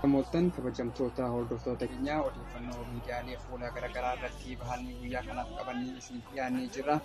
Namoottan kabajamtoota hordoftoota keenyaa odeeffannoo miidiyaalee fuula garaagaraa irratti bahanii guyyaa kanaaf qabanii isiniif dhiyaannee jira.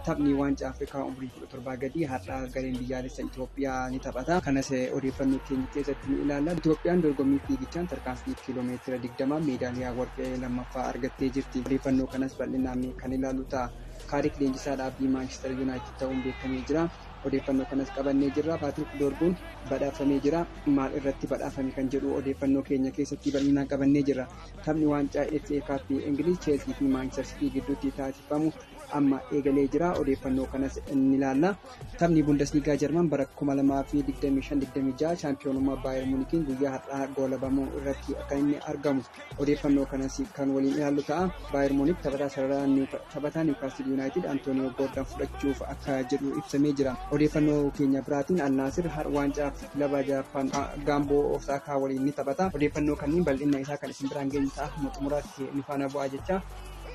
Taphni waancaa Afrikaa umrii 17 gadii har'a gareen biyyaalessa Itoophiyaa ni taphata. Kanas odeeffannoo keenya keessatti ni ilaalla. Itoophiyaan dorgommii fiigichaan tarkaanfii kiiloomeetira 20 meedaaliyaa warqee lammaffaa argattee jirti. Odeeffannoo kanas bal'inaan kan ilaalu ta'a. Kaarik leenjisaa dhaabbii Maanchister Yuunaayitid ta'uun beekamee jira. Odeeffannoo kanas qabannee jirra. Paatrik Doorguun badhaafamee jira. Maal irratti badhaafame kan jedhu odeeffannoo keenya keessatti bal'inaan qabannee jirra. Taphni waancaa FA Cup Ingiliz Cheelsii fi Maanchister Sitii gidduutti taasifamu amma eegalee jira. Odeeffannoo kanas ni ilaalla. Taphni Bundesliigaa Jarman bara 2025-26 shaampiyoonummaa Baayer Muunikiin guyyaa har'aa goolabamuu irratti akka inni argamu odeeffannoo kanas kan waliin ilaallu ta'a. Baayer Muunik taphataa sarara taphataa Niwkaastil Yuunaayitid Antooniyoo Goordan fudhachuuf akka jedhu ibsamee jira. Odeeffannoo keenya biraatiin Al Naasir har waancaa kilaba Jaappaan Gaamboo Osaakaa waliin ni taphata. Odeeffannoo kanneen bal'inna isaa kan isin biraan geenyu ta'a. Hamma xumuraatti nu faana bu'aa jecha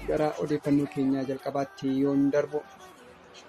gara odeeffannoo keenyaa jalqabaatti yoon darbu.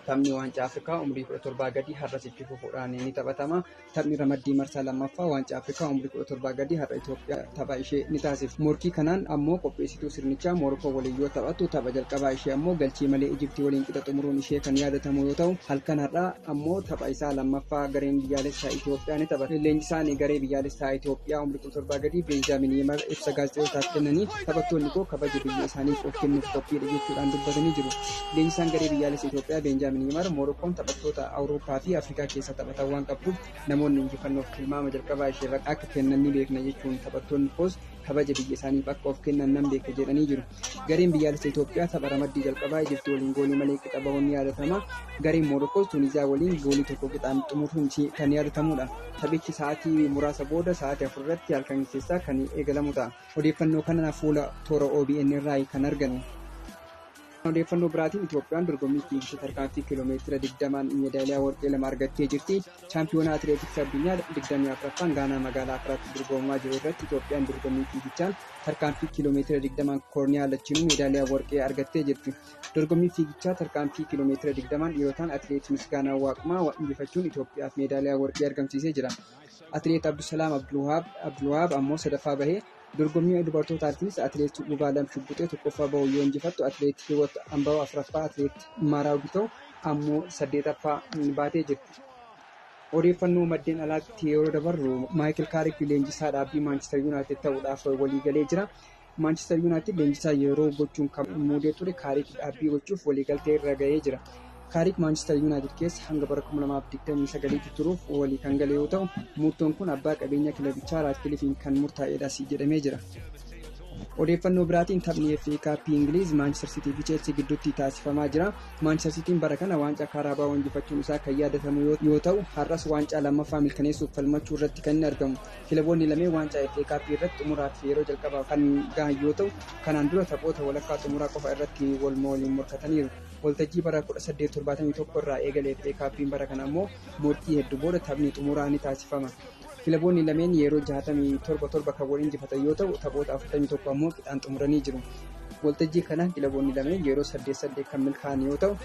Taphni waancaa Afrikaa umrii 17 gadii har'as itti fufuudhaan ni taphatama. Taphni ramaddii marsaa lammaffaa waancaa Afrikaa umrii 17 gadii har'a Itoophiyaa tapha ishee ni taasifti. Morkii kanaan ammoo qopheessituu sirnichaa Moorokoo waliin yoo taphattu tapha jalqabaa ishee ammoo galchii malee Ijiptii waliin qixa xumuruun ishee kan yaadatamu yoo ta'u halkan har'aa ammoo tapha isaa lammaffaa gareen biyyaalessaa Itoophiyaa ni taphata. Leenjisaan garee biyyaalessaa Itoophiyaa umrii 17 gadii Beenjaamin Yimar ibsa gaazexeessootaaf kennaniin taphattoonni koo kabaja biyya isaaniif of kennuuf qophiidha jechuudhaan dubbatanii jiru. Leenjisaan garee biyyaalessa Itoophiyaa Beenjaamin Yimar Moorokkoon taphattoota Awurooppaa fi Afrikaa keessaa taphatan waan qabduuf namoonni injifannoof tilmaama jalqabaa isheerratti akka kennan ni beekna jechuun taphattoonni koos kabaja biyya isaaniif akka of kennan nan beeka jedhanii jiru. Gareen biyyaalessa Itoophiyaa tapha ramaddii jalqabaa Ijipti waliin goolii malee qixa bahuun ni yaadatama. Gareen Moorokkoos Tuuniziyaa waliin goolii tokko qixaan xumuruun kan yaadatamudha. Taphichi sa'aatii muraasa booda sa'aatii afur irratti halkan keessaa kan eegalamu ta'a. Odeeffannoo kana fuula toora OBN irraa kan arganne. Odeeffannoo biraatiin Itoophiyaan dorgommii fiigicha tarkaanfii kiiloomeetira 20n meedaaliyaa warqee lama argattee jirti. Chaampiyoonaa Atileetiksii Addunyaa 24ffaan Gaanaa magaalaa Akiraatti dorgomamaa jiru irratti Itoophiyaan dorgommii fiigichaan tarkaanfii kiiloomeetira 20n koorniyaa lachiinuu meedaaliyaa warqee argattee jirti. Dorgommii fiigichaa tarkaanfii kiiloomeetira 20n dhiirotaan Atileet Misgaanaaw Waaqumaa injifachuun Itoophiyaaf meedaaliyaa warqee argamsiisee jira. Atileet Abdusalaam Abdulwahaab ammoo sadaffaa bahee Dorgommii dubartootaattis atileet Gubaalam Shugguxee tokkoffaa bahuun yoo injifattu atileet Hiwot Ambaw afraffaa atileet Maaraaw Gitaw ammoo saddeetaffaa baatee jirti. Odeeffannoo maddeen alaatti yeroo dabarru Maayikil Kaarik leenjisaa dhaabbii Maanchister Yuunaayitid ta'uudhaaf waliigalee jira. Maanchister Yuunaayitid leenjisaa yeroo gochuun kan muudee ture Kaarik dhaabbii gochuuf waliigaltee irra gahee jira. Kaariik Maanchister Yuunaayitid keessa hanga bara 2029tti turuuf walii kan gale yoo ta'u, murtoon kun abbaa qabeenyaa kilabichaa Raatkilifiin kan murtaa'edhas jedhamee jira. Odeeffannoo biraatiin taphni FA Kaappii Ingiliiz Maanchister Siitii fi Cheelsii gidduutti taasifamaa jira. Maanchister Siitiin bara kana waancaa Kaaraabaa injifachuun isaa kan yaadatamu yoo ta'u, har'as waancaa lammaffaa mirkaneessuuf falmachuu irratti kan inni argamu. Kilaboonni lameen waancaa FA Kaappii irratti xumuraaf yeroo jalqabaaf kan gahan yoo ta'u, kanaan dura taphoota walakkaa xumuraa qofa irratti wal waliin morkataniiru. Waltajjii bara 1871 irraa eegalee FA Kaappiin bara kana ammoo morkii heddu booda taphni xumuraa ni taasifama. Kilaboonni lameen yeroo 67 torba kan wal injifatan yoo ta'u taphoota 41 ammoo qixaan xumuranii jiru. Waltajjii kana kilaboonni lameen yeroo 8 8 kan milkaa'an yoo ta'u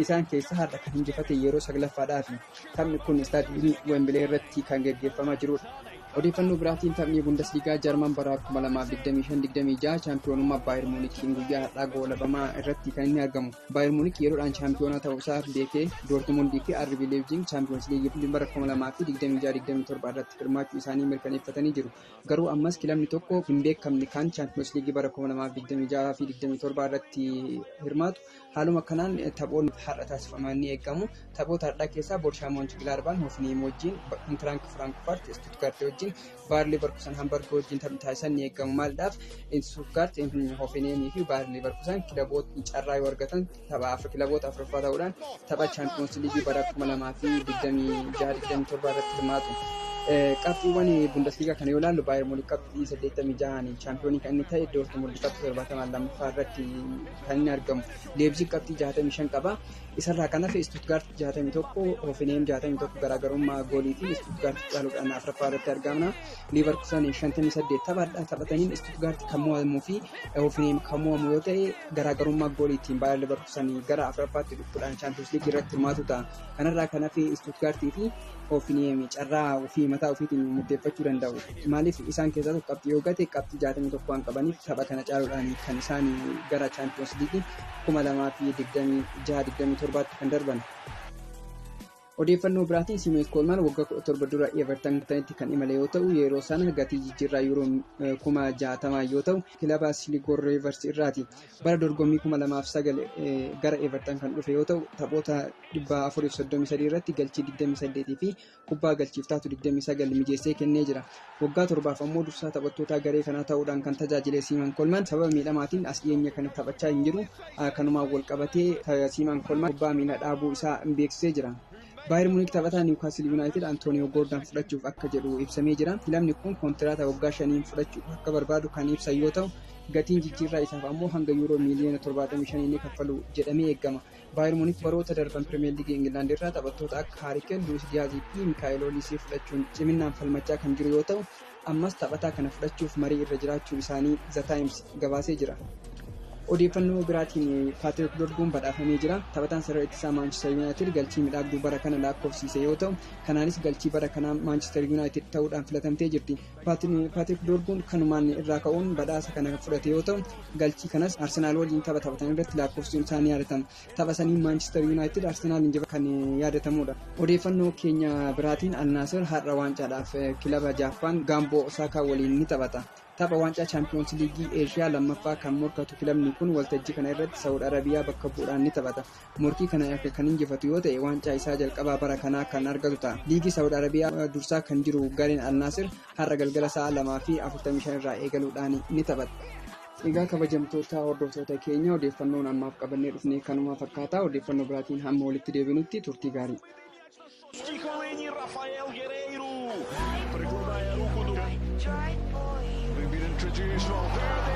isaan keessaa har'a kan injifate yeroo 9ffaadhaafi. Taphni kun istaadiyoomii Wembilee irratti kan geggeeffamaa jirudha. Odeeffannoo biraatiin taphni Bundesliigaa Jarman bara 2025 26 chaampiyoonummaa Baayir Muunikiin guyyaa har'aa goolabamaa irratti kan inni argamu. Baayir Muunik yeroodhaan chaampiyoonaa ta'uu isaa beekee Doortimundii fi RB Leipzig chaampiyoons liigii bara 2026-27 irratti hirmaachuu isaanii mirkaneeffatanii jiru. Garuu ammas kilabni tokko hin beekamne kan chaampiyoons liigii bara 2026 fi 27 irratti hirmaatu Haaluma kanaan taphoonni har'a taasifaman ni eegamu. Taphoota har'aa keessaa Boorshaa Moonchi Gilaarbaan Hoofiniim wajjin, Intiraank Firaankifaart Istuutgaart wajjin, Baayar Liivarkusan Hambarg wajjin taphni taasisan ni eegamu. Maaldhaaf Istuutgaart, Hoofiniimii fi Baayar Liivarkusan kilabootni carraa yoo argatan tapha kilaboota afuraffaa ta'uudhaan tapha Chaampiyoonsi Liigii bara 2026-27 irratti hirmaatu. Qabxiiwwan Bundesliigaa kana yoo ilaallu Baayar Muunik qabxii 86n chaampiyoonii kan inni ta'e Doortmund qabxii 70 lammaffaa irratti kan inni argamu. Leebziig qabxii 65 qaba. Isarraa kan hafe Istuutgaart 61, Hoofenheem 61 garaagarummaa gooliitiin Istuutgaart caaluudhaan afraffaa irratti argamna. Liivarkusan 58 taphaadha. Taphataniin Istuutgaart kan mo'amuu fi Hoofenheem kan mo'amu yoo ta'e garaagarummaa gooliitiin Baayar Liivarkusan gara afraffaatti dhufuudhaan Chaampiyoons Liigii irratti hirmaatu ta'a. Kanarraa kan hafe Istuutgaartii fi OPDM carraa ofii mataa ofiitiin murteeffachuu danda'u. Maaliif isaan keessaa tokko qabxii yoo gate qabxii 61 waan qabaniif tapha kana caaluudhaan kan isaan gara Chaampiyoons Liigii 2026-27tti kan darban. Odeeffannoo biraatiin Simees Koolmaan waggaa 17 dura Evertanitti kan imale yoo ta'u yeroo sana gatii jijjiirraa yuuroo kuma 60 yoo ta'u kilaba Siligor Riivers irraati. Bara dorgommii 2009 gara Everton kan dhufe yoo ta'u, taphoota 433 irratti galchii 28 fi kubbaa galchiif taatu 29 mijeessee kennee jira. Waggaa torbaaf ammoo dursaa taphattootaa garee kanaa ta'uudhaan kan tajaajile Siiman Kolman sababa miidhamaatiin as dhiyeenya kana taphachaa hin jiru. Kanumaan walqabatee Siiman Kolman kubbaa miilaa dhaabuu isaa beeksisee jira. Baayern Muniik taphataa Niwukaastil Yuunaayitid Antooniyoo Goordaan fudhachuuf akka jedhu ibsamee jira. Kilabni kun kontiraata waggaa shaniin fudhachuu akka barbaadu kan ibsan yoo ta'u, gatiin jijjiirraa isaaf ammoo hanga yuuroo miiliyoona 75 ni kaffalu jedhamee eegama. Baayern Muniik baroota darban Pirimeer Liigii Ingilaand irraa taphattoota akka Haarikeen, Luwis Diyaazii fi Mikaa'el Oliisii fudhachuun ciminaan falmachaa kan jiru yoo ta'u, ammas taphataa kana fudhachuuf marii irra jiraachuu isaanii The Times gabaasee jira. Odeeffannoo biraatiin Paatrik Dorguun badhaafamee jira. Taphataan sarara ittisaa Maanchister Yuunaayitid galchii midhaagduu bara kana lakkoofsiise yoo ta'u, kanaanis galchii bara kanaa Maanchister Yuunaayitid ta'uudhaan filatamtee jirti. Paatrik Dorguun kanumaan irraa ka'uun badhaasa kana fudhate yoo ta'u, galchii kanas Arsenaal waliin tapha taphatan irratti lakkoofsisuun isaa ni yaadatama. tapha saniin Maanchister Yuunaayitid Arsenaal injifachuu kan yaadatamuudha. Odeeffannoo keenya biraatiin Alnaasir har'a waancaadhaaf kilaba Jaappaan Gaamboo Osaakaa waliin ni taphata. Tapha waancaa Chaampiyoonsi Liigii Eeshiyaa lammaffaa kan morkatu kilabni kun waltajjii kana irratti Saawud Arabiyaa bakka bu'uudhaan ni taphata. Morkii kana erga kan injifatu yoo ta'e waancaa isaa jalqabaa bara kanaa kan argatu ta'a. Liigii Saawud Arabiyaa dursaa kan jiru gareen Alnaasir Har'a galgala sa'a 2:45 irraa eegaluudhaan ni taphata. Egaa kabajamtoota hordoftoota keenya odeeffannoon ammaaf qabannee dhufne kanuma fakkaata. Odeeffannoo biraatiin hamma walitti deebinutti turtii gaarii. Chicorini Rafael Guerreiro. Pergunta é Hugo do. Ribeiro introduced Valverde.